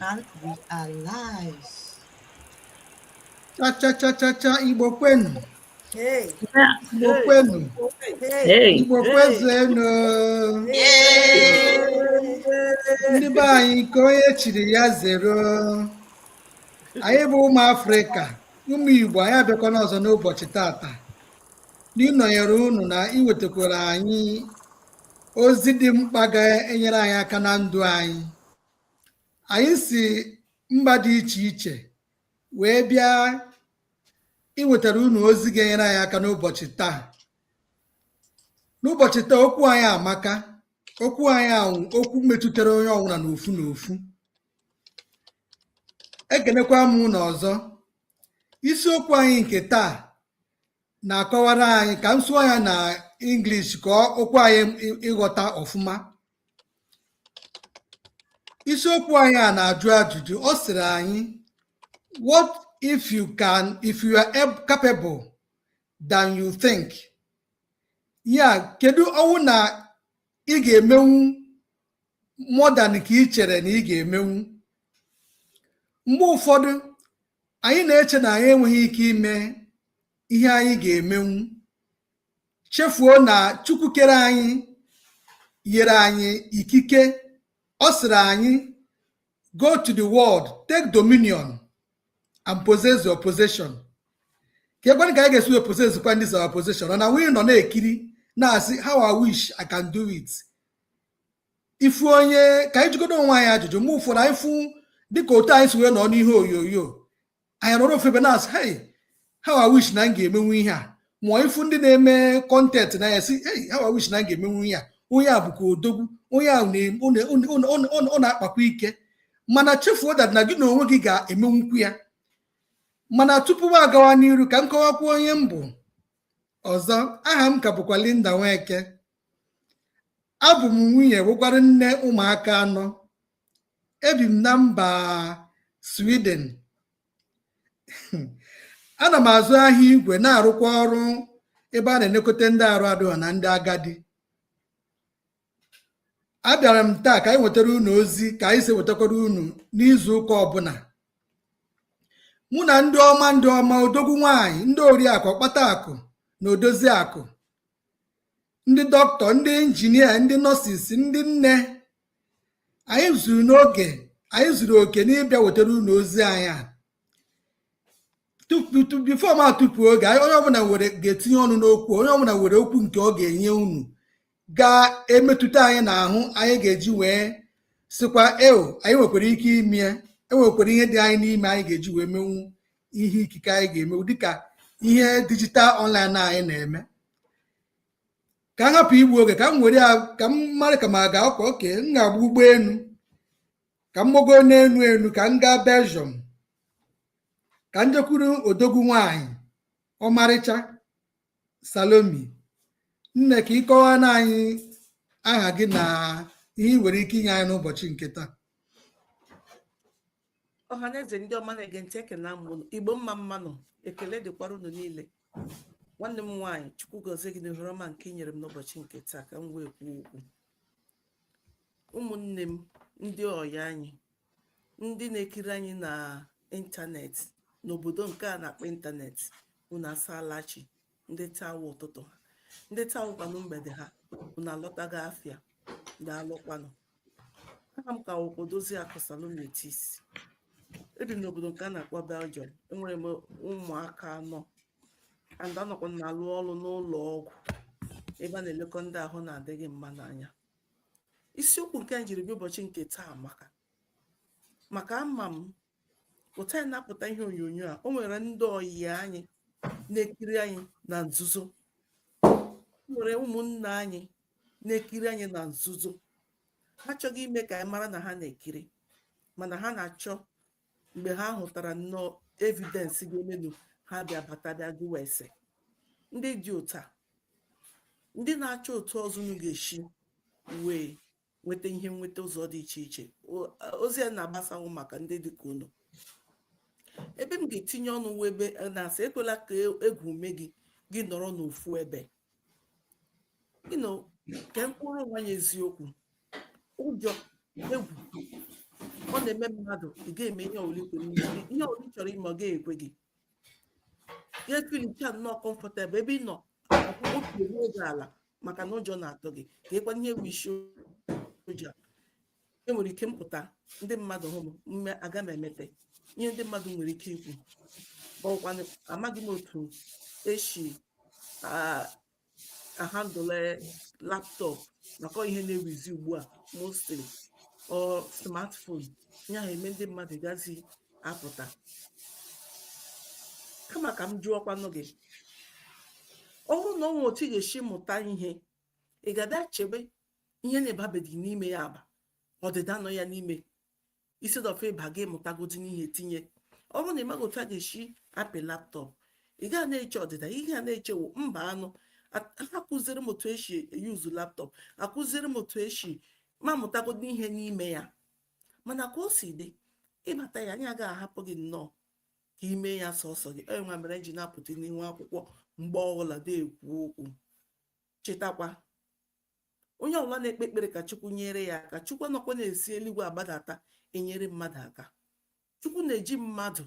and we are live. Cha cha cha cha cha Igbo kwenu. Hey. Igbo kwenu. Hey. Igbo kwezuenu. Ndị be anyị nke onye chiri ya zere o. Anyị bụ ụmụ Afrịka, ụmụ Igbo anyị abịakwana ọzọ n'ụbọchị tata. N'ịnọnyere unu na iwetakwara anyị ozi dị mkpa ga-enyere anyị aka na ndụ anyị anyị si mba dị iche iche wee bịa iwetara unu ozi ga-enyere anyị aka n'ụbọchị taa n'ụbọchị taa okwu anyị amaka okwu anyị a wụ okwu metụtara onye ọbụla n'ofu n'ofu ekenekwa m unu ọzọ isiokwu anyị nke taa na-akọwara anyị ka m sụọ ya na English ka o kwe anyị ịghọta ọfụma isiokwu anyị a na-ajụ ajụjụ ọ sịrị anyị what if you can if you are capable than you think ya kedu ọ wụ na ị ga-emenwu more than ka ị chere na ị ga-emenwu mgbe ụfọdụ Anyị na-eche na anyị enweghị ike ime ihe anyị ga-emenwu, chefuo na Chukwu kere anyị nyere anyị ikike. Ọ sịrị anyị, Go to the world, take dominion and possess your possession. keekwanụ ka anyị ga-esi wee possess kwanụ this our possession ọ na-enwe ị nọ na-ekiri na-asị how I wish I can do it ị fụ onye ka anyị jụgodu onwe anyị ajụjụ mgbe ụfọdụ anyị fụ dịka otu anyị si wee nọ n'ihe onyonyo anyị nọrọ ofu ebe na-asị hey how I wish na m ga-emenwu ihe a ma ị fụ ndị na-eme content na ya sị hey how I wish na m ga-emenwu ihe a onye a bụkwa odogwu onye a ọ na-akpakwa ike mana chefuo that na gị na onwe gị ga-emenwukwu ya mana tupu m agawa n'iru ka m kọwakwa onye m bụ ọzọ aha m ka bụkwa Linda Nweke abụ m nwunye bụkwara nne ụmụaka anọ ebi m na mba Sweden ana m azụ ahịa igwe na-arụkwa ọrụ ebe a na-elekọta ndị arụ adịghọ na ndị agadi abịara m taa ka anyị wetara unu ozi ka anyị si wetakwara unu n'izu ụka ọbụla mụ na ndị ọma ndị ọma odogwu nwanyị ndị oriakụ ọkpata akụ na odozi akụ ndị dọkịta ndị injinia ndị nọsis ndị nne anyị zuru n'oge anyị zuru oke n'ịbịa wetara unu ozi anyị a bifo ma tupu oge onye ọbụla nwere ga-etinye ọnụ n'okwu onye ọbụla nwere okwu nke ọ ga-enye unu ga-emetụta anyị n'ahụ anyị ga-eji wee sịkwa eo anyị nwekwara ike ime enwekwara ihe dị anyị n'ime anyị ga-eji wee menwu ihe ikike anyị ga-emewu dịka ihe dijital ọnlaịn anyị na-eme ka m hapụ igbu oge ka m were ka m mara ka m aga ọkwa oke m ga-agba ụgbọelu ka m gbago n'elu elu ka m gaa Belgium ka m jekwuru odogwu nwanyị ọmarịcha Salomi nne ka ị kọwaara anyị aha gị na ihe ị nwere ike inye anyị n'ụbọchị nke taa ọha na eze ndị ọma na-ege ntị ekelee m ụnụ igbo mma mma nụ ekele dịkwara ụnụ niile nwanne m nwaanyị chukwu gọzie gị n'ohere ọma nke i nyere m n'ụbọchị nke taa ka m wee kwuo okwu ụmụnne m ndị ọyị anyị ndị na-ekiri anyị na ịntanetị n'obodo nke a na-akpọ ịntanetị unu asaala chi ndị taa wụ ụtụtụ ha ndị taa wụkwanụ mgbede ha unu alọtago afịa daalụkwanụ aha m ka wụkwa odoziakụ salome tis ebi m n'obodo nke a na-akpọ belgium enwere m ụmụaka anọ and anọkwa m na-alụ ọrụ n'ụlọ ọgwụ ebe a na-elekọ ndị ahụ na-adịghị mma n'anya isiokwu nke m jiri bịa ụbọchị nke taa maka maka ama m otu a anyị na-apụta ihe onyonyo a o nwere ndị ọyị anyị na-ekiri anyị na nzuzo o nwere ụmụnna anyị na-ekiri anyị na nzuzo ha achọghị ime ka anyị mara na ha na-ekiri mana ha na-achọ mgbe ha hụtara nnọọ evidensị ga-emenu ha bịa bata bịa jụwa ese ndị dị otu a ndị na-achọ otu ọzọ unu ga-esi wee nweta ihe nweta ụzọ dị iche iche ozi a na-agbasa wụ maka ndị dịka unu ebe m ga-etinye ọnụ wụ ebe e, na-asị ekwela ka e, egwu mee gị gị nọrọ n'ofu ebe nke mkpụrụ onwe ya eziokwu ụjọ egwu ọ na-eme mmadụ ị ga-eme ihe ọbụla ihe ọbụla ị chọrọ ime ọ ga-ekwe gị ya efilicha nnọọ kọmfọtebụl ebe ị nọ obi ruo gị ala maka na ụjọ na-atụ gị kekwanụ ihe wụ isi ụjọ enwere ike m pụta ndị mmadụ hụ m m mee aga m emete ihe ndị mmadụ nwere ike ikwu ọkwanụ amaghị m otu esi ahandle laptọp maka ihe na-ewuzi ugbu a mostly ọ smartphone ya eme ndị mmadụ gazi apụta kama ka m jụọkwanụ gị ọ bụrụ na o nwere otu ị ga-esi mụta ihe ị ga-abịa chebe ihe na ị babeghị n'ime ya aba ọdịda nọ ya n'ime instead of ịba gị mụtagodi n'ihe tinye ọ bụrụ na ị maghị otu a ga-esi apị laptọp ị ga na-eche ọdịda ị ga na-echewo mbanụ akụziri m otu esi yuzu laptọp akụziri m otu esi ma mụtagodi ihe n'ime ya mana ka o si dị ịbata ya anyị agaghị ahapụ gị nnọọ ka i mee ya sọsọ gị ọ ya nwa mere e ji na-apụta n'ihu akwụkwọ mgbe ọbụla na-ekwu okwu chetakwa onye ọbụla na-ekpe ekpere ka chukwu nyere ya aka chukwu anọkwa na-esi eluigwe agbadata enyere mmadụ aka chukwu na-eji mmadụ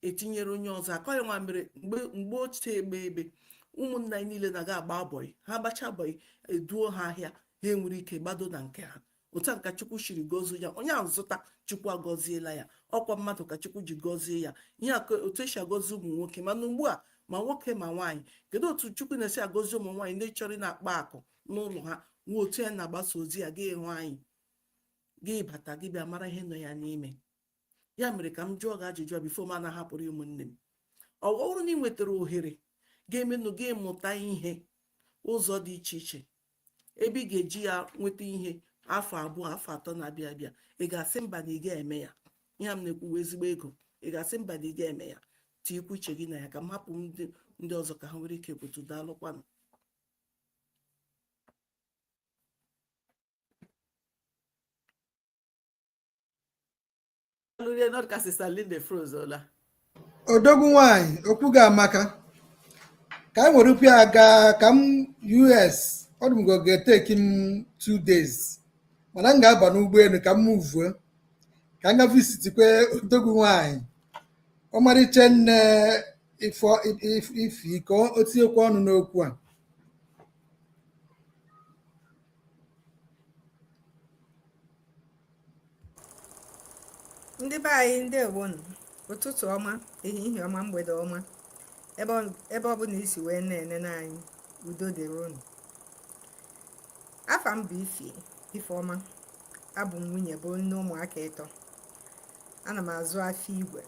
etinyere onye ọzọ aka ọ ya nwa mere mgbe ochie egbe ebe ụmụnna anyị niile na-aga agba bọyị ha gbacha bọyị e duo ha ahịa ha enwere ike gbado na nke ha otu a ka chukwu siri gọzie ya onye ahụ zụta chukwu agọziela ya ọ kwa mmadụ ka chukwu ji gọzie ya ihe a otu esi agọzi ụmụ nwoke mana ugbu a ma nwoke ma nwaanyị kedu otu chukwu na-esi agọzi ụmụ nwaanyị ndị chọrọ ịna-akpa akụ n'ụlọ ha nwe otu ya na-agbasa ozi ya gị hụ anyị gị bata gị bịa mara ihe nọ ya n'ime ya mere ka m jụọ gị ajụjụ a bifo m na-ahapụrụ ụmụnne m ọ bụrụ na ị nwetara ohere ga-emenụ gị mụta ihe ụzọ dị iche iche ebe ị ga-eji ya nweta ihe afọ abụọ afọ atọ na-abịa abịa ị ga-asị mba na ị ga-eme ya ihe m na-ekwuwa ezigbo ego ị ga-asị mba na ị ga-eme ya tinyekwa uche gị na ya ka m hapụ ndị ọzọ ka ha nwere ike kwutu daalụkwanụ odogwu nwanyị okwu gị amaka ka anyị were ụkwụ ya gaa ka m us ọ dị m ka ọ ga-eteki m two days mana m ga-aba n'ụgbọelu ka m muvuo ka m ga visitikwe odogwu nwanyị ọmarịcha nne ifi ka o tinyekwa ọnụ n'okwu a ndị be anyị ndewonụ ụtụtụ ọma ehihie ọma mgbede ọma ebe ọ bụla i si wee na-enene anyị udo dịrị unu afa m bụ ifeọma abụ m nwunye bụ nne ụmụaka ịtọ ana m azụ afịa igwe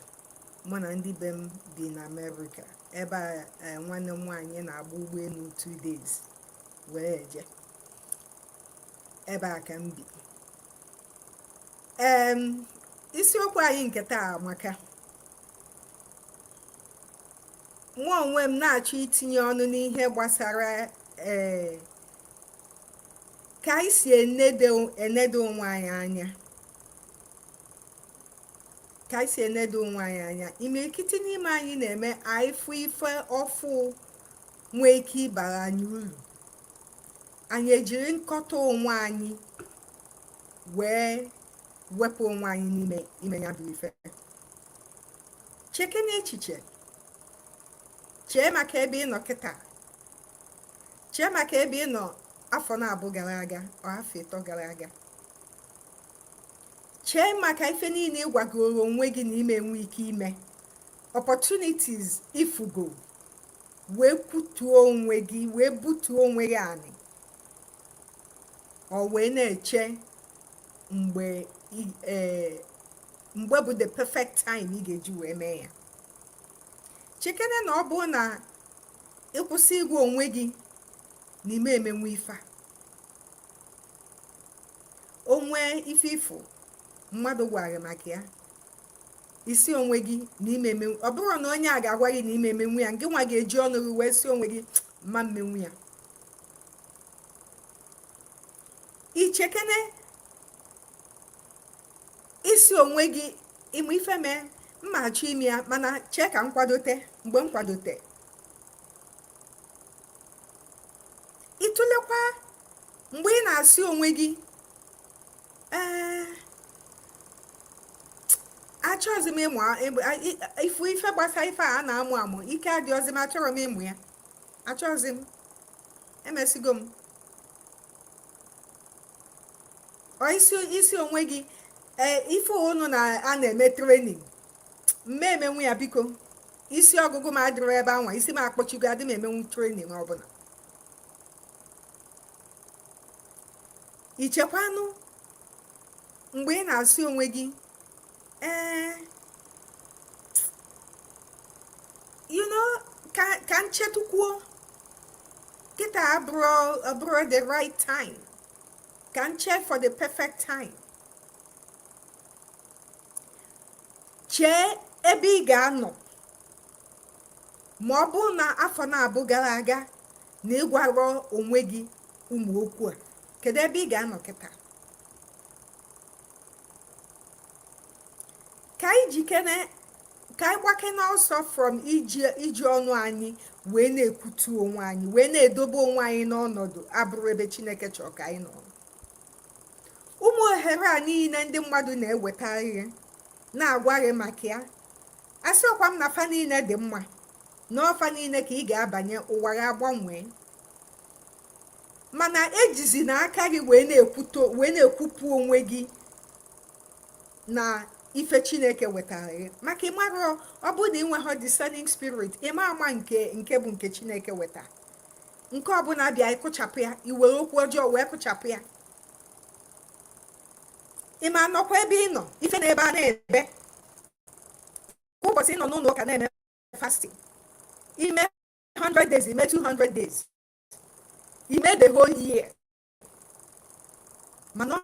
mụ na ndị be m bi na amerịka ebe a nwanne m nwaanyị na-agba ụgbọelu two days were eje ebe a ka m bi isiokwu anyị nke taa amaka mụ onwe m na-achọ itinye ọnụ n'ihe gbasara ee eh, ka anyị si enedo onwe anyị anya ka anyị si enedo onwe anyị anya imirikiti n'ime anyị na-eme anyị fụ ife ọfụụ nwee ike ịbara anyị uru anyị ejiri nkọta onwe anyị wee wepụ onwe anyị n'ime ime ya bụ ife chekene echiche chee maka ebe ị nọ kịtaa chee maka ebe ị nọ afọ naabọ gara aga or afọ ịtọ gara aga chee maka ife niile ị gwagoro onwe gị na ị ma enwe ike ime opportunities ị fụgo wee kwutuo onwe gị wee butuo onwe gị anị ọ wee na-eche mgbe e, mgbe bụ the perfect time ị ga-eji wee mee ya chekene na ọ bụrụ na ị kwụsị ịgwa onwe gị na ị ma emenwu ife a o nwee ife ị fụ mmadụ gwa gị maka ya ị sị onwe gị na ị ma emenwu ọ bụrọ na onye a ga-agwa gị na ị ma emenwu ya ngị nwa ga-eji ọnụ gị wee sị onwe gị m ma emenwu ya i chekene ị sị onwe gị ị ma ife mee m ma achọ ime ya mana chee ka m kwadote mgbe m kwadote ị tụlekwa mgbe ị na-asị onwe gị ee achọghịzi m ịmụ ifu ife gbasa ife a na-amụ amụ ike adịghịzi m achọrọ m ịmụ ya achọghịzi m emesigo m ị sị onwe gị ee ife nụnwa a na-eme training m ma emenwu ya biko isi ọgụgụ m adịrọ ebe anwa isi m akpọchigo adị m emenwu training ọbụla i chekwanụ mgbe ị na-asị onwe gị ee eh, you know ka ka m chetukwuo kịtaa abụrọ abụrọ the right time ka m chee for the perfect time chee ebe ị ga-anọ ma ọ bụrụ na afọ naabọ gara aga na ịgwarọ onwe gị ụmụ okwu a kedu ebe ị ga-anọ kịta ka anyị jikere ka anyị gbakene ọsọ from iji ọnụ anyị wee na-ekwutu onwe anyị wee na-edobe onwe anyị n'ọnọdụ abụrọ ebe chineke chọrọ ka anyị nọrọ ụmụ ohere a niile ndị mmadụ na-eweta ihe na-agwa gị maka ya asịrọkwa m na fa niile dị mma na ọ fa niile ka ị ga-abanye ụwa gị agbanwee mana ejizina aka gị wee na-ekwupụ onwe gị na ife chineke wetara gị maka ịmarọ ọ bụ na ịnwerọ discerning spirit ị ma ama nke nke bụ nke chineke weta nke ọbụla bịa ị kụchapụ ya i were okwu ọjọọ wee kụchapụ ya ị ma nọkwa ebe ị nọ ife na ebe a na-ebe ụbọchị ị nọ n'ụlọ ụka na-eme fasting ime 100 days ime 200 days ime the whole year mana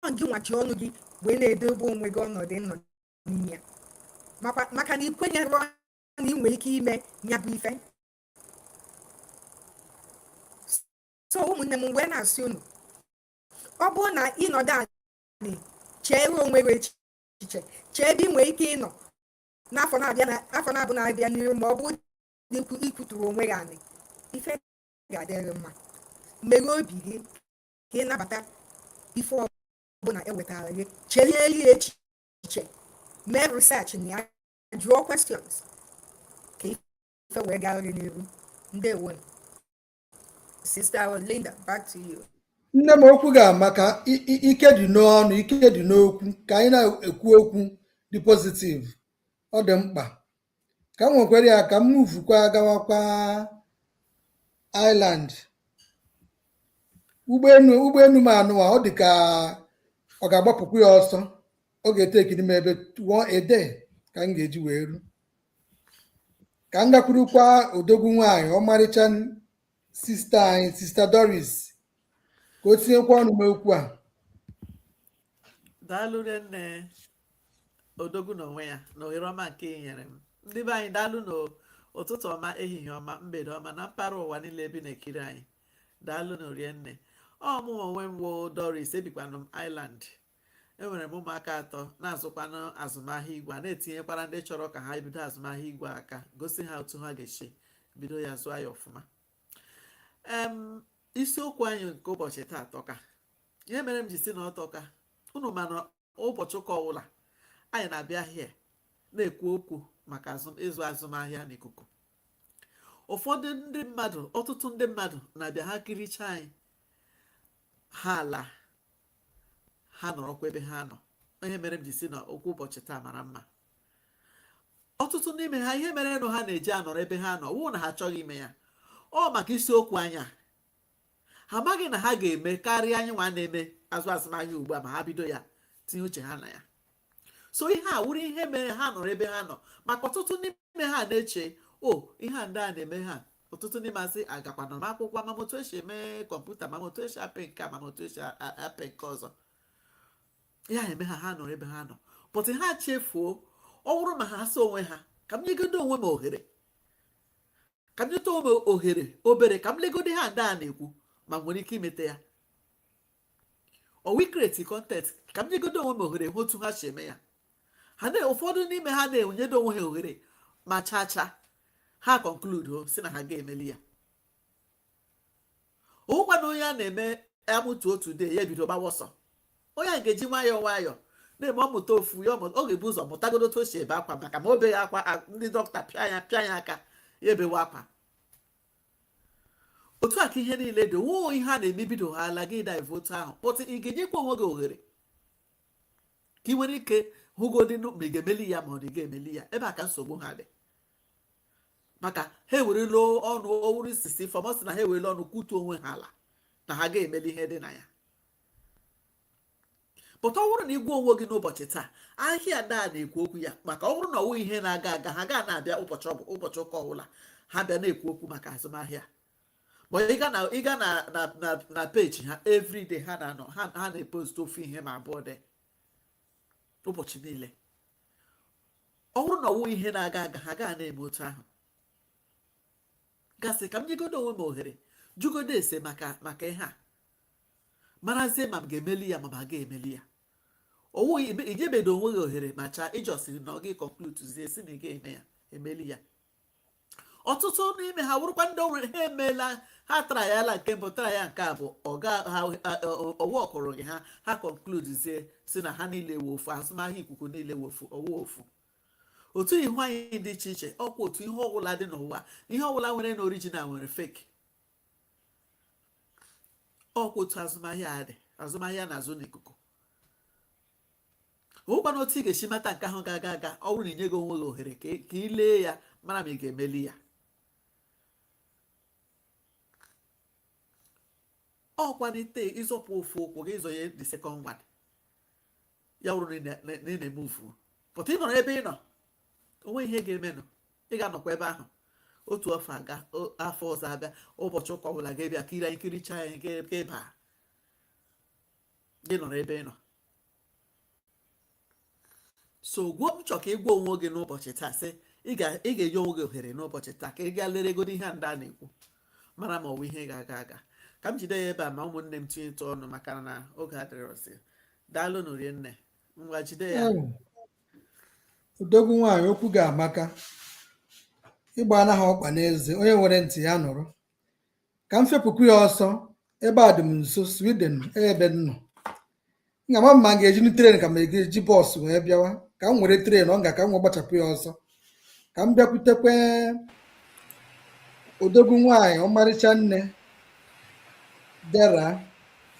ọ gị nwa ji ọnụ gị wee na-edobe onwe gị ọnọdụ ị nọ n'ime ya maka na ikwenyerọ na ị nwere ike ime ya bụ ife so ụmụnne m wee na-asị unu ọ bụrụ na ịnọdụ anị cheere onwe gị echiche chee ebe ị nwere ike ịnọ n'afọ na-abịa na afọ naabọ na-abịa n'iru ma ọ bụ dị ikwu ikwuturọ onwe gị anị ife ga-adịrị mma meghe obi gị ka ị nabata ife ọbụla ewetara gị cherie ya echiche mee research na ya jụọ questions ka ife wee gara gị n'iru ndewonụ Sister Linda, back to you. nne m okwu gị amaka i- i- ike dị n'ọnụ ike dị n'okwu ka anyị na-ekwu okwu dị pozitiv ọ dị mkpa ka m wekwara ya ka m muvukwa gawakwa Ireland ụgbọelu ụgbọelu m anụwa ọ dị ka ọ ga-agbapụkwa ọsọ ọ ga-etekiri m maybe a day ka m ga-eji wee ru ka m gakwurukwa odogwu nwaanyị ọmarịcha sista anyị sista Doris ka o tinyekwa ọnụ n'ime okwu a daalụ rinne odogwu n'onwe ya na ohere ọma nke ị nyere m ndị be anyị daalụnụ ụtụtụ ọma ehihie ọma mgbede ọma na mpaghara ụwa niile e bi na-ekiri anyị daalụnụ rinne ọ mụ onwe m woo Doris ebikwanụ m Ireland enwere m ụmụaka atọ na-azụkwanụ azụmahịa igwe a na-etinyekwara ndị chọrọ ka ha bido azụmahịa igwe aka gosi ha otu ha ga-esi bido ya zụọ ya ọfụma isiokwu anyị nke ụbọchị taa atọka ihe mere m ji si na ọ tọka unu ma na ụbọchị ụka ọbụla anyị na-abịa here na-ekwu okwu maka ịzụ azụmahịa n'ikuku ụfọdụ ndị mmadụ ọtụtụ ndị mmadụ na-abịa ha kirichaa anyị ha ala ha nọrọkwa ebe ha nọ ihe mere m ji si na okwu ụbọchị taa mara mma ọtụtụ n'ime ha ihe merenụ ha na-eji anọrọ ebe ha nọ wụ na ha achọghị ime ya ọ maka isiokwu anyị a ha amaghị na ha ga-eme karịa anyị nwa na-eme azụ azụmahịa ugbu a ma ha bido ya tinye uche ha na ya so ihe a wụrụ ihe mere ha nọrọ ebe ha nọ maka ọtụtụ n'ime ha na-eche o oh, ihe a ndị a na-eme ha ọtụtụ n'ime ha asị agakwana m akwụkwọ ma otu esi eme kọmputa ma otu esi apị nke a ma otu esi apị nke ọzọ ya eme ha ha nọrọ ebe ha nọ but ha chefuo ọ bụrụ ma ha sị onwe ha ka m nyegodo onwe m ohere ka m nyeta onwe m ohere obere ka m legodo ihe a ndị a na-ekwu ma m nwere ike imeta ya ọwụ i-create content ka m nyegodo onwe m ohere hụ otu ha si eme ya ha na ụfọdụ n'ime ha na-enyedo onwe ha ohere ma chaa chaa ha conclude sị na ha ga-emeli ya ọwụkwana onye a na-eme a mụta otu day ya ebido gbawa ọsọ onye a ga-eji nwayọọ nwayọọ na-eme ọ mụta ofu ya ọ ga-ebu ụzọ mụtagodo otu o si ebe akwa maka ma o beghị akwa ndị dọkịta pịa ya pịa ya aka ya ebewe akwa otu a ka ihe niile dị ọwụ ihe a na-eme bido ha ala gị a-dive otu ahụ but ị ga-enyekwa onwe gị ohere ka ị nwere ike hụgodị ma ị ga-emeli ya ma ọ dị ga-emeli ya ebe a ka nsogbu ha dị maka ha ewerela ọnụ ọwụrụ isi isi foremost na ha ewerela ọnụ kwutu onwe ha ala na ha ga-emeli ihe dị na ya but ọ bụrụ na ị gwa onwe gị n'ụbọchị taa ahịa ndị a na-ekwu okwu ya maka ọ bụrụ na ọwụ ihe na-aga aga ha ga na-abịa ụbọchị ọ bụ ụbọchị ụka ọbụla ha bịa na-ekwu okwu maka azụmahịa ma ị ga na page ha everyday ha na-anọ ha na-epost ofu ihe ma abụọ dị ụbọchị niile ọ bụrụ na ọwụ ihe na-aga aga ha ga na-eme otu ahụ gị asị ka m nyegodo onwe m ohere jụgodo ese maka maka ihe a marazie ma m ga-emeli ya ma ma ga-emeli ya ọwụ i nyebedo onwe gị ohere ma chaa ị just nọ gị concludezie sị na ị ga-eme ya emeli ya ọtụtụ n'ime ha wụrụkwa ndị o nwere ha emeela ha tryala nke mbụ trya nke abụọ ọ workụrụghị ha ha concludezie sị na ha niile wụ ofu azụmahịa ikuku niile wụ ofu ọwụ ofu otu ihu anyị dị iche iche ọkwa otu ihe ọbụla dị n'ụwa ihe ọbụla nwerenụ original nwere fake ọkwa otu azụmahịa a dị azụmahịa na-azụ n'ikuku ọ wụkwanụ otu ị ga-esi mata nke ahụ ga-aga aga ọ bụrụ na inye gị onwe gị ohere ka ị lee ya mara ma ị ga-emeli ya ọ wụkwanụ ite ịzọpụ ofu ụkwụ gị ịzọ ya the second one ya wụrụ na ị na-eme move but ị nọrọ ebe ị nọ o nwe ihe ga-emenụ ị ga-anọkwa ebe ahụ otu afọ agaa afọ ọzọ abịa ụbọchị ụka ọbụla ga-ebịa kiri anyị kiricha anyị ga-eba gị nọrọ ebe ị nọ so gwuo m chọ ka ị gwa onwe gị n'ụbọchị taa sị ị ga-enye onwe gị ohere n'ụbọchị taa ka ị gaa leregodo ihe a ndị a na-ekwu mara ma ọ bụ ihe ga-aga aga ka m jide ya ebe a ma ụmụnne m tinyetụ ọnụ maka na oge adịrọzi daalụnụ rinne ngwa jide ya odogwu nwaanyị okwu gị amaka ịgba anaghị ọkpa n'eze onye nwere ntị ya nụrụ ka m fepụkwu ya ọsọ ebe a dị m nso sweden ebe m nọ m ga-ama ma m ga-ejinu tren ka m ga-eji bọs wee bịawa ka m were tren ọ nga ka m wee gbachapụ ya ọsọ ka m bịakwutekwe odogwu nwaanyị ọmarịcha nne dera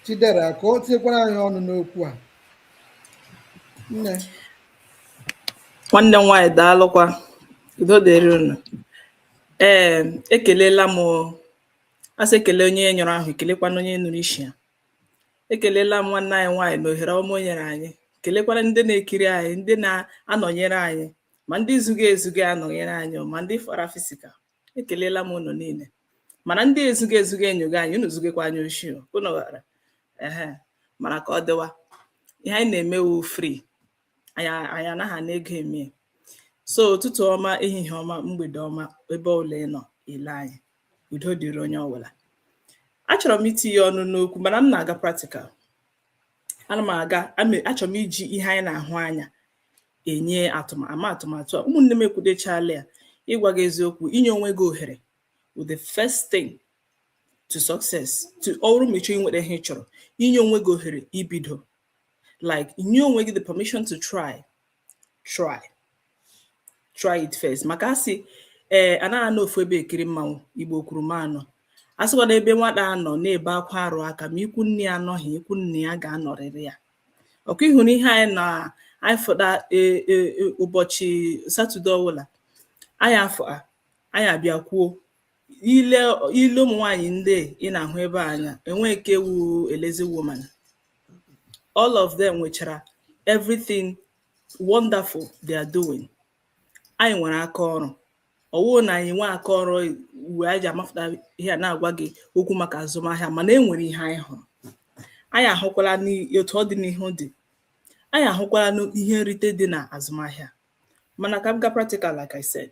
chidera ka o tinyekwara anyị ọnụ n'okwu a nne nwanne m nwaanyị daalụkwa udo dịrị unu ee ekelela m asị ekele onye nyụrụ ahụ ekelekwanụ onye nụrụ isi ya ekelela m nwanne anyị nwaanyị na ohere ọma o nyere anyị kelekwara ndị na-ekiri anyị ndị na-anọnyere anyị ma ndị zuga ezuga anọnyere anyị ma ndị fara physical ekelela m unu niile mana ndị ezuga ezuga enyoga anyị unu zugekwa anyị oshi unu ghara ehe mana ka ọ dịwa ihe anyị na-eme wụ free anyị anaghị ana ego eme so ụtụtụ ọma ehihie ọma mgbede ọma ebe ọbụla ị nọ ele anyị udo dịrị onye ọbụla achọrọ m itinye ọnụ n'okwu mana m na-aga practical ana m aga achọrọ m iji ihe anyị na-ahụ anya enye atụmatụ atụmatụ a ụmụnne m ekwudechala ya ịgwa gị eziokwu inye onwe gị ohere wụ the first thing to success to ọ bụrụ ma ịchọ inweta ihe ị chọrọ inye onwe gị ohere ibido like inye onwe gị the permission to try try try it first maka asị ee eh, anaghị anọ ofu ebe ekiri mmanwụ igbo kwuru m anọ asịkwa na ebe nwata nọ na-ebe akwa arụ aka ma ikwu nne ya anọghị ikwu nna ya ga-anọrịrị ya ọkwa ị hụ na ihe anyị na anyị fụta e, e, e, ụbọchị satọde ọbụla anyị afọ anyị abịa kwuo ile ile ụmụ nwaanyị ndị ị na-ahụ ebe a anya enweghị nke wụ a lazy woman all of them nwechara everything wonderful they are doing anyị nwere aka ọrụ ọwụ na anyị nwee aka ọrụ wee ji amapụta ihe a na-agwa gị okwu maka azụmahịa mana e nwere ihe anyị hụrụ anyị ahụkwala n'otu ọdịnihu dị anyị ahụkwala n'ihe nrite dị na azụmahịa mana ka m gaa practical like I said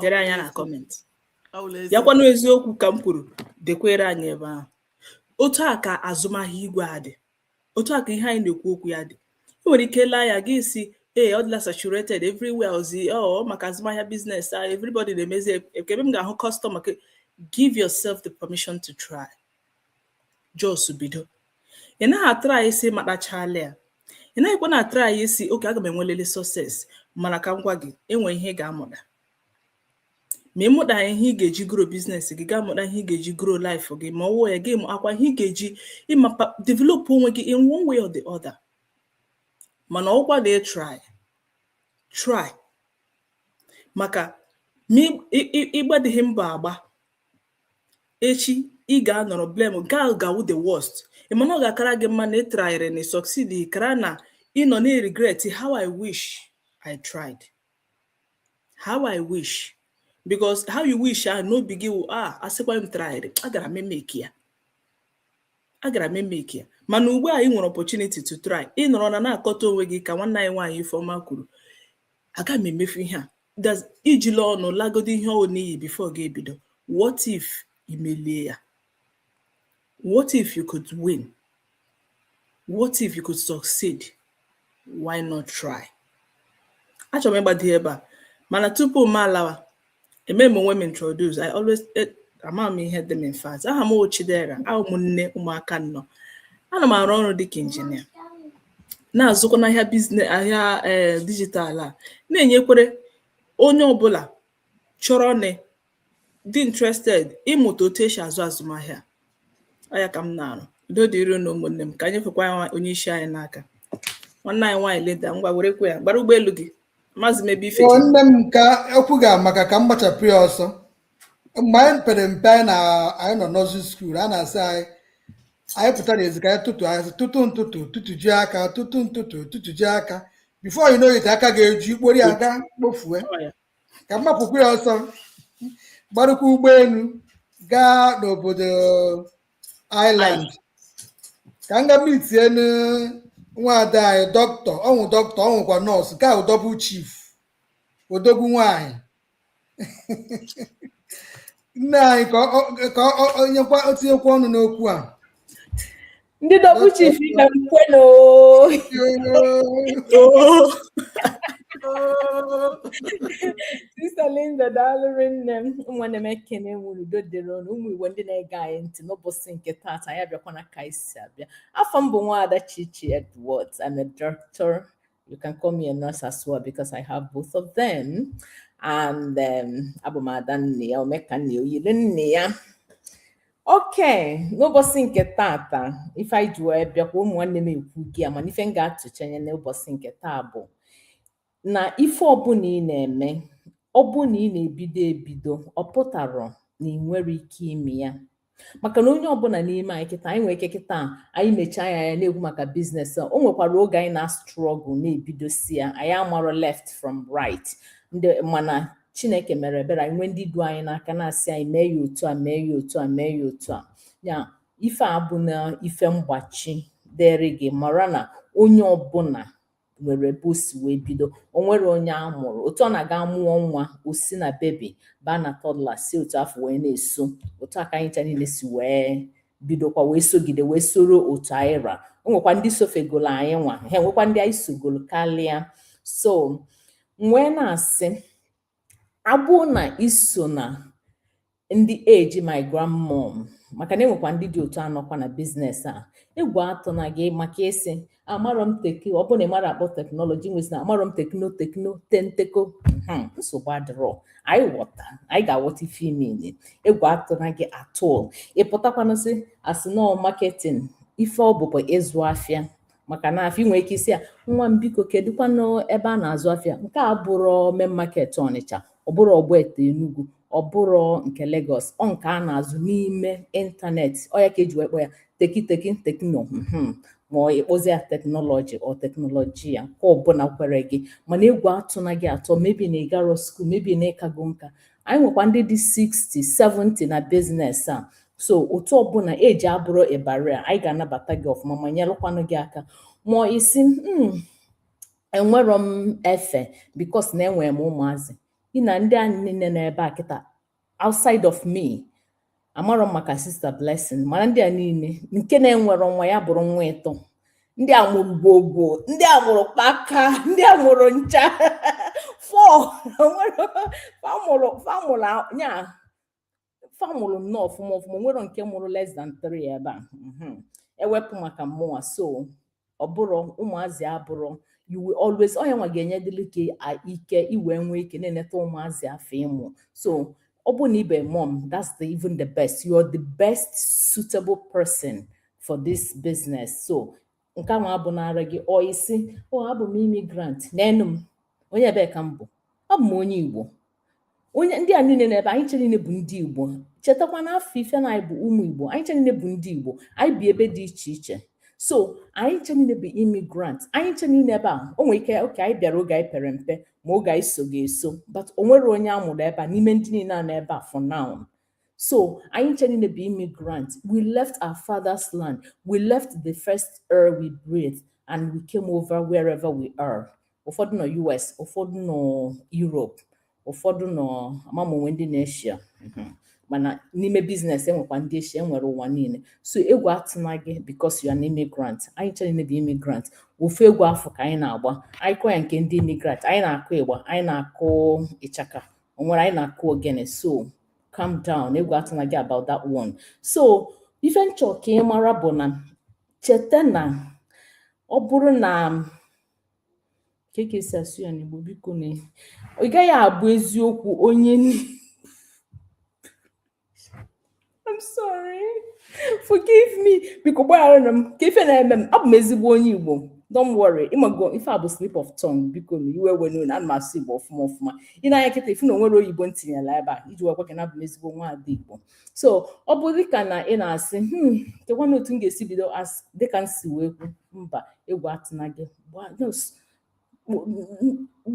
dere anyị ya na comment ya kwanụ eziokwu ka m kwuru dekwere anyị ebe ahụ otu a ka azụmahịa igwe a dị otu a ka ihe anyị na-ekwu okwu ya dị ị nwere ike laa ya gị sị ee ọ dịla saturated everywhere ozi ọ oh, maka azụmahịa business a ah, everybody na-emezi ebe m ga-ahụ customer give yourself the permission to try Just bido. Ị naghị atry sị ị matachala ya. Ị naghịkwa na-atry sị okay aga m enwelele success mana ka m gwa gị enwe ihe ị ga-amụta ma ị mụta ihe ị ga-eji grow business gị ga-amụta ihe ị ga-eji grow life gị ma ọ wụọ ya gị amakwa ihe ị ga-eji ịmapa develop onwe gị in one way or the other mana ọkwa gị try try maka ma ịgbadịghị mbọ agba echi ị ga-anọrọ blame nke ahụ ga-awụ the worst ị ma na ọ ga-akara gị mma na ị tryrị na succeed kara na ị nọ na regret how I wish I tried how I wish because how you wish ahụ n'obi gị wụ a ah, a sịkwa m tryrị agara m emake ya agara m emake ya mana ugbu a ị nwere opportunity to try ị nọrọ na na-akọta onwe gị ka nwanne anyị nwaanyị Ifeọma kwuru aga m emefu ihe a i jila ọnụ lagodi ihe ahụ n'iyi before gị ebido what if i melie ya what if you could win what if you could succeed why not try achọrọ m ịgbado ebe a mana tupu m alawa eme m onwe m introduce i always e, ama m ihe dị m in fact aha m wụ Chidera awụ m nne ụmụaka anọ ana m arụ ọrụ dịka injinia na-azụkwa n'ahịa business ahịa ee eh, digital a na-enyekwere onye ọbụla chọrọ na dị interested ịmụta otu esi azụ azụmahịa ọ ya ka m na-arụ udo dịrị unu ụmụnne m ka m nyefekwa onye isi anyị n'aka nwanne anyị nwaanyị leda ngwa werekwa ya gbara ụgbọelu gị maazị mebe ife nne m ka okwu gị amaka ka m gbachapụ ya ọsọ mgbe anyị pere mpe anyị na anyị nọ nursery school a na-asị anyị anyị pụta n'ezi ka anyị tụtụ anyị sị, tụtụ ntụtụ tụtụjie aka tụtụ ntụtụ tụtụjie aka before you know it aka ga-eju ikpori a gaa kpofue ka m mapụkwu ya ọsọ gbarụkwa ụgbọelu gaa n'obodo Ireland ka m gaa meetie nwaada anyị doctor ọ wụ doctor ọ wụkwa nurse ka wụ double chief odogwu nwaanyị nne anyị ka ọ- ka ọ- ọ nyekwa o tinyekwa ọnụ n'okwu a ndị double chief ka m kwe na oo. Sister Linda daalụrị nne m nwanne m ekene nwere udo dịrị unu ụmụ Igbo ndị na-ege anyị ntị n'ụbọsị nke taata anyị abịakwana ka anyị si abịa afa m bụ nwaada Chichi Edwards I'm a doctor You can call me a nurse as well because I have both of them. And um, abụ m ada nne ya omeka nne ya oyiri nne ya okay n'ụbọsị nke taata ife anyị ji wee bịakwa ụmụ nwanne m ekwugo ya mana ife m ga-atụchanye n'ụbọsị nke taa bụ na ife ọbụna ị na-eme ọ bụ na ị na-ebido ebido ọ pụtarọ na ị nwerọ ike ime ya maka na onye ọbụna n'ime anyị kịta anyị nwere ike kịta anyị mechie anya na-ekwu maka business a o nwekwara oge anyị na-struggle na-ebidosi ya anyị amarọ left from right mana Chineke mere ebere anyị nwee ndị du anyị n'aka na-asị anyị mee ya otu a mee ya otu a mee ya otu a ya ife a bụ na ife mgbachi dịrị gị mara na onye ọbụna nwere ebe o si wee bido o nwerọ onye a mụrụ otu ọ ra a ga-amụ nwa o si na baby baa na toddler si otu afụ wee na-eso otu a ka anyị ncha niile si wee bidokwa wee sogide wee soro otu anyị ra o nwekwa ndị sofegolo anyị nwa e nwekwa ndị anyị sogolo karịa so m wee na-asị Ọ bụ na i so na ndị age my grandmom maka na e nwekwa ndị dị otu a nọkwa na business a egwu atụna gị maka ịsị amarọ m techy ọ bụrụ na ị marọ akpọ technology wee sị na amarọ m techno techno tenteko hmm, nsogbu adịrọ anyị ghọta anyị ga-aghọta ife ime ime egwu atụna gị at all ị pụtakwanụ sị a sị na ọ marketing ife ọ bụ bụ ịzụ afịa maka na afọ ị nwere ike ịsị ya nwa m biko kedụkwanụ ebe a na-azụ afịa nke a abụrọ main market Ọnịcha ọ bụrọ Ogbete Enugu ọ bụrọ nke Lagos ọ nke a na-azụ n'ime internet ọ ya ka e ji wee kpọ ya techy techy techno hmm. ma ọ ị kpọzie ya technology ọ technology ya nke ọbụna kwere gị mana egwu atụna gị at all maybe na ị garọ school maybe na ị kago nka anyị nwekwa ndị dị 60 70 na business a so otu ọbụna e ji abụrụ ịbara anyị ga-anabata gị ọfụma ma nyelụkwanụ gị aka ma ọ ị sị hmm, enwerọ m efe because na enwere m ụmụazị ị nee ndị anyị niile n'ebe a kịta outside of me amarọ m maka Sister Blessing mana ndị a niile nke na-enwerọ nwa ya bụrụ nwa ịtọ ndị a mụrụ gbogbo ndị a mụrụ kpaka ndị a mụrụ ncha fọ fa mụrụ ya fa mụrụ nnọọ ọfụma ọfụma nwerọ nke mụrụ less than 3 ebe a mhm. ewepụ maka mmụwa so ọ bụrọ ụmụazị abụrọ you will always onye nwa ga-enye dịlị gị ike i wee nwee ike na-eneta ụmụazị afụ ị mụ so ọ bụ na ị bụ mom that's the, even the best you are the best suitable person for this business so nke ahụ abụnara gị ọ isi o abụ m immigrant n'onwe m onye ebee ka m bụ abụ m onye igbo onye ndị a niile nọ ebe a anyị ncha niile bụ ndị igbo chetakwa na afọ ife na anyị bụ ụmụ igbo anyị ncha niile bụ ndị igbo anyị bi ebe dị iche iche so anyị ncha niile bụ immigrant anyị ncha niile ebe a o nwere ike oke anyị bịara oge anyị pere mpe ma oge anyị sogo eso but o nwerọ onye a mụrụ ebe a n'ime ndị niile a nọ ebe a for now So anyị ncha niile bụ immigrant. We left our father's land. We left the first air we breathed and we came over wherever we are. Ụfọdụ nọ US, ụfọdụ nọ Europe, ụfọdụ nọ ama m ma e nwe ndị nọ Asia. Mm-hmm. Mana n'ime business enwekwa ndị Asia enwere ụwa niile. So egwu atụna gị because you are an immigrant. Anyị ncha niile bụ immigrant. Ofu egwu afụ ka anyị na-agba. Anyị kọ ya nke ndị immigrant. Anyị na-akụ igba, anyị na-akụ ichaka. o nwere anyị na-akụ ogene so calm down egwu atụna gị about that one so ife m chọ ka ị mara bụ na cheta na ọ bụrụ na kee ka e si asụ ya n'igbo biko na ị gaghị abụ eziokwu onye I'm sorry. Forgive me. Biko gbagharanụ m kee ife na-eme m abụ m ezigbo onye Igbo don't worry ị mago ife a bụ slip of tongue bikonụ iwe ewena unu ana m asụ Igbo ọfụma ọfụma i nee anya kịta ị fụ na o nwerọ oyibo m tinyela ebe a iji makwa na abụ m ezigbo nwa ada Igbo so ọ bụ dịka na ị na-asị hmm kekwanụ otu m ga-esi bido dịka m si wee kwu mba egwu atụna gị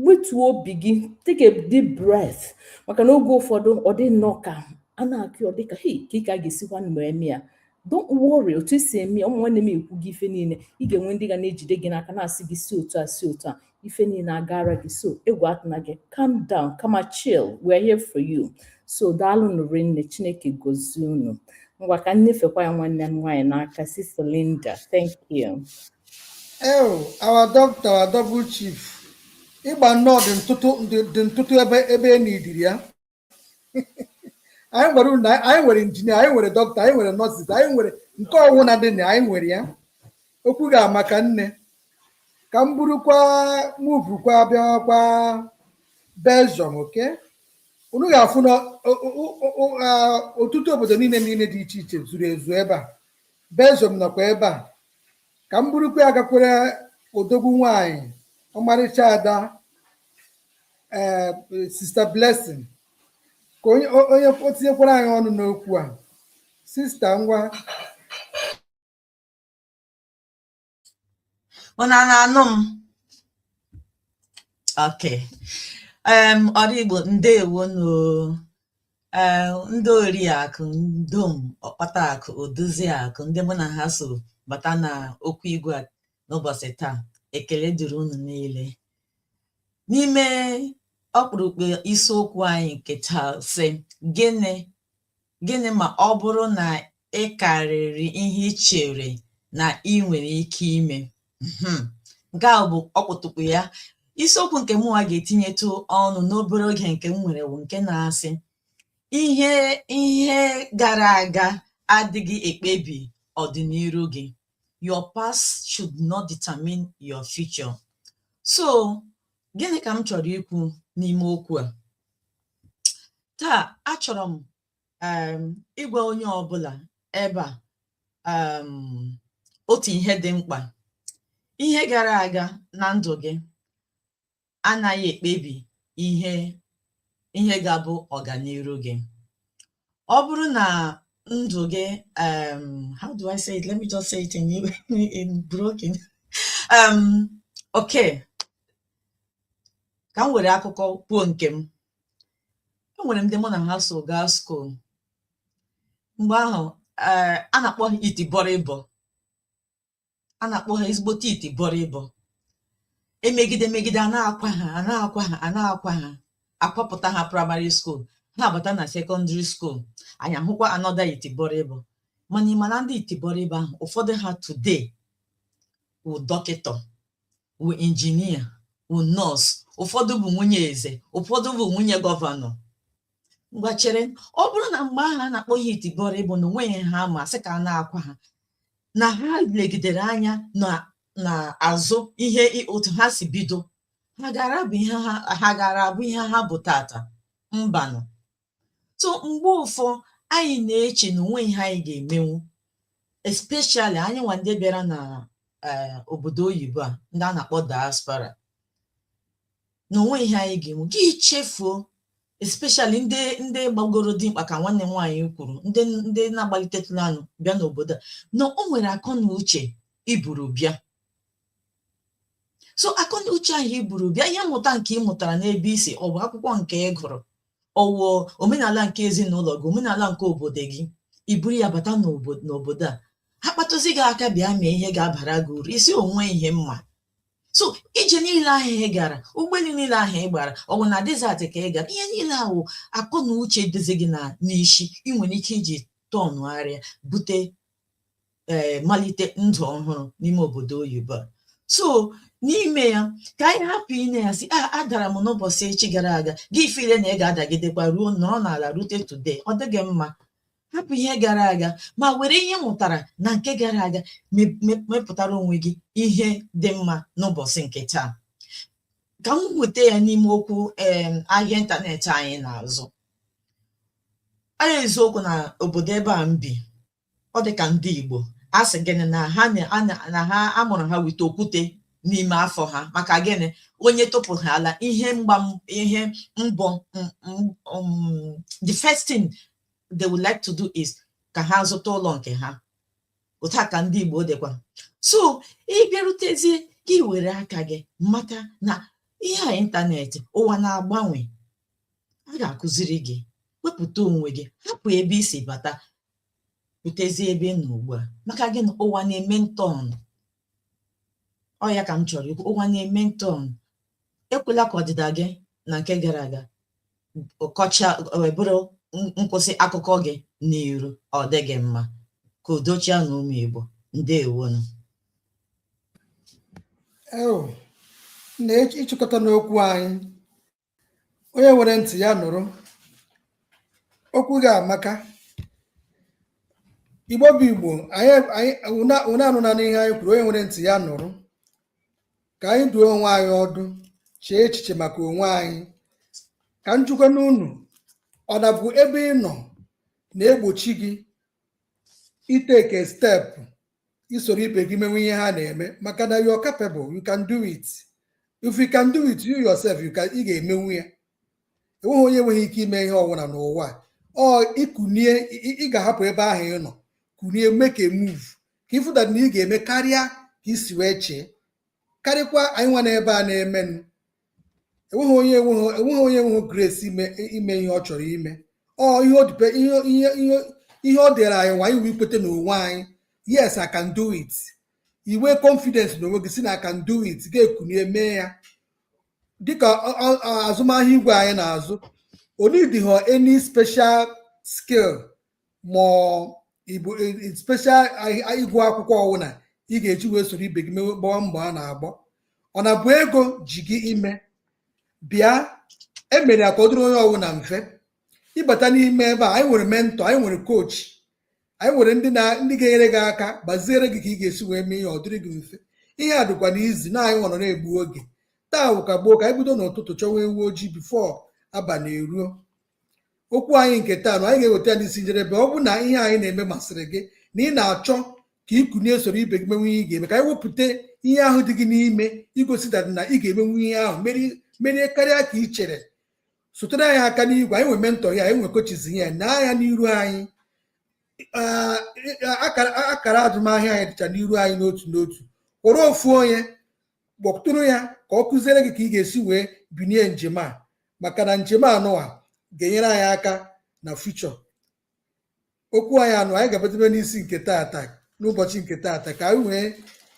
wetuo obi gị take a deep breath maka na oge ụfọdụ ọ dị nnọọ ka a na-akụ ọ dịka hei kee ka a ga-esikwanụ eme ya don't worry otu esi eme ya ụmụ nwanne m ekwugo ife niile ị ga-enwe ndị ga na-ejide gị n'aka na-asị gị si otu a si otu a ife niile agaara gị so egwu atụna gị calm down kama chill we're here for you so daalụnụ ụmụnne chineke gozie unu ngwa ka m nyefekwa ya nwanne m nwaanyị n'aka sister Linda thank you Ew, our doctor, our double chief. Ị gba nnọọ the ntụtụ the ntụtụ ebe ebe e needịrị ya. Anyị nwere lọya, anyị nwere injinia, anyị nwere dọkịta, anyị nwere nurses, anyị nwere nke ọwụ na dị na anyị nwere ya. Okwu gị amaka nne. Ka m burukwa muvukwa bịawakwa Belgium, okay? Unu ga-afụ na ọtụtụ obodo niile niile dị iche iche zuru ezu ebe a. Belgium nọkwa ebe a. ka m burukwa ya gakwere odogwu nwanyị ọmarịcha ada ee sista blessing ka onye o- onye o tinyekwara anyị ọnụ n'okwu a sista ngwa Unu a na-anụ m? Okay. Um, ndị Igbo ndewo nụ. ee ndị oriakụ ndom ọkpata akụ odozi akụ ndị mụ na ha so bata na okwu igwe a n'ụbọchị taa ekele dịrị unu niile n'ime ọkpụrụkpụ isiokwu anyị nke taa sị gịnị gịnị ma ọ bụrụ na ị karịrị ihe i chere na ị nwere ike ime hmm. nke a bụ ọkpụtụkpụ ya isiokwu nke mụnwa ga-etinyetụ ọnụ n'obere oge nke m nwere bụ nke na-asị ihe ihe gara aga adịghị ekpebi ọdịniru gị your past should not determine your future so gịnị ka m chọrọ ikwu n'ime okwu a taa achọrọ m um ịgwa onye ọbụla ebe a um otu ihe dị mkpa ihe gara aga na ndụ gị anaghị ekpebi ihe ihe ga-abụ ọganiru gị ọ bụrụ na ndụ gị um how do I say it let me just say it in in broken um okay ka m were akụkọ kwuo nke m e nwere ndị mụ na ha so gaa skuul mgbe ahụ eh, a na-akpọ ha itibọrịbọ a na-akpọ ha ezigbote itibọrịbọ e megide e megide a na-akwa ha a na-akwa ha a na-akwa ha a kwapụta ha praịmarị skuul ha abata na sekọndịrị skuul anyị ahụkwa another itibọrịbọ mana ị ma na ndị itibọrịbọ ahụ ụfọdụ ha today wụ dọkịta wụ injinia wụ nọọsụ ụfọdụ bụ nwunye eze ụfọdụ bụ nwunye gọvanọ ngwa chere ọ bụrụ na mgbe ahụ a na-akpọ ha itibọrịbọ na o nweghị ihe ha ma sị ka a na-akwa ha na ha legidere anya n'azụ ihe otu ha si bido ha gara abụ ihe ha gara abụ ihe ha bụ taata mbanụ so mgbe ụfọ anyị na-eche na o nweghị ihe anyị ga-emenwu especially anyịnwa ndị bịara na eh, obodo oyibo a ndị a na-akpọ diaspora na o nweghị ihe anyị ga-emenwu gị echefuo especially ndị ndị gbagoro dimkpa ka nwanne m nwaanyị kwuru ndị ndị na-agbalitetụla anụ bịa n'obodo a na o nwere akọ na uche i buru bịa so akọ na uche ahụ i buru bịa ihe mmụta nke ị mụtara n'ebe i si ọ bụ akwụkwọ nke ị gụrụ ọwụ omenala nke ezinụlọ gị omenala nke obodo gị i buru ya bata n'obodo a ha kpatụzi gị aka bịa mee ihe ga-abara gị uru isi onwe ihe mma so ije niile ahụ ị gara ụgbọelu niile ahụ ị gbara ọ bụ na desert ka ị gara ihe niile ahụ akọ na uche dịzi gị na n'isi ị nwere ike iji tọnụgharịa bute ee eh, malite ndụ ọhụrụ n'ime obodo oyibo a so n'ime ya ka anyị hapụ ịna-asị ah, adara m n'ụbọchị echi gara aga gị ịfeel na ị ga-adagidekwa ruo nọrọ n'ala rute today ọ dịghị mma hapụ ihe gara aga ma were ihe ị mụtara na nke gara aga mepụtara onwe gị ihe dị mma n'ụbọchị nke taa ka m weta ya n'ime okwu ahịa ịntanetị anyị na-azụ n'eziokwu na obodo ebe a m bi ọ dị ka ndị Igbo a sị gịnị na ha na ha a mụrụ ha with okwute n'ime afọ ha maka gịnị onye tụpụ ha ala ihe mgba ihe mbụ um, the first thing they would like to do is ka ha zụta ụlọ nke ha otu a ka ndị Igbo dịkwa so ịbịarutezie gị iwere aka gị mata na ihe a ịntanetị ụwa na-agbanwe a ga-akụziri gị wepụta onwe gị hapụ ebe i si bata pụtezi ebe ị nọ ugbu a maka gịnị ụwa na-eme ntọn ọ ya ka m chọrọ ikwu ụwa na-eme ntọn ekwela ka ọdịda gị na nke gara aga kọcha bụrụ nkwụsị akụkọ gị n'iru ọ dịghị mma ka udo chịa na ụmụ Igbo ndewonu na ịchịkọta n'okwu anyị onye nwere ntị ya nụrụ okwu gị amaka igbo bụ igbo anyị anyị ụna ụna anụnanụ ihe anyị kwuru onye nwere ntị ya nụrụ ka anyị duo onwe anyị ọdụ chee echiche maka onwe anyị ka m jụkwanụ unu ọ na-abụ ebe ị nọ na-egbochi gị ịtake step isoro ibe gị menwu ihe ha na-eme maka na you are capable you can do it if you can do it you yourself ị ga-emenwu ya enweghị onye enweghị ike ime ihe ọbụla n'ụwa a. ọ ikunie ị- ị ị ga-ahapụ ebe ahụ ị nọ kunie make a move ka ị fụ that na ị ga-eme karịa ka i si wee chee karịkwa anyị nwa n'ebe a na-emenụ enweghị onye enweghị enweghị onye enweghị grace ime ime ihe ọ chọrọ ime ọ ihe ọ dịpe ihe ihe ihe ihe ọ dịrị anyị nwa iwu ikweta n'onwe anyị yes I can do it inwe confidence n'onwe gị sị na I can do it gị ekunie mee ya dịka ọ- ọ- ọ- azụmahịa igwe anyị na-azụ o needịghị any special skill ma ọ bụ e, e, special ịgụ akwụkwọ ọwụna ị ga-eji wee soro ibe gị mewe gbaa mbọ a na-agba ọ na bụ ego ji gị ime bịa e mere ya ka ọ dịrị onye ọwụna mfe ịbata n'ime ebe a anyị nwere mentor anyị nwere coach anyị nwere ndị na ndị ga-enyere gị aka gbaziere gị ka ị ga-esi wee mee ihe ọ dịrị gị mfe ihe a dịkwanụ easy na anyị nọrọ na-egbu oge taa wụkwa gboo ka anyị bido n'ụtụtụ chọwa ewu ojii before abalị eruo okwu anyị nke taa na anyị ga-eweta ya n'isi njedebe ọ bụ na ihe anyị na-eme masịrị gị na ị na-achọ ka ị kunie soro ibe gị mewe ihe ị ga-eme ka anyị wepụta ihe ahụ dị gị n'ime igosi that na ị ga-emenwu ihe ahụ merie karịa ka ị chere sotere anyị aka n'igwe anyị nwe mentor ya anyị nwe coaches ya na ya n'iru anyị akara azụmahịa anyị dịcha n'iru anyị n'otu n'otu kpọrọ ofu onye kpọtụrụ ya ka ọ kuziere gị ka ị ga-esi wee binie njem a maka na njem anụwa ga-enyere anyị aka na future okwu anyị anụwa anyị ga-abadebe n'isi nke taata n'ụbọchị nke taata ka anyị wee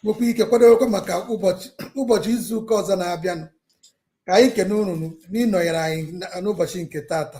nwekwa ike kwadowekwa maka ụbọchị ụbọchị izu ụka ọzọ na-abịanụ ka anyị kene unu n'ịnọnyere anyị na- n'ụbọchị nke taata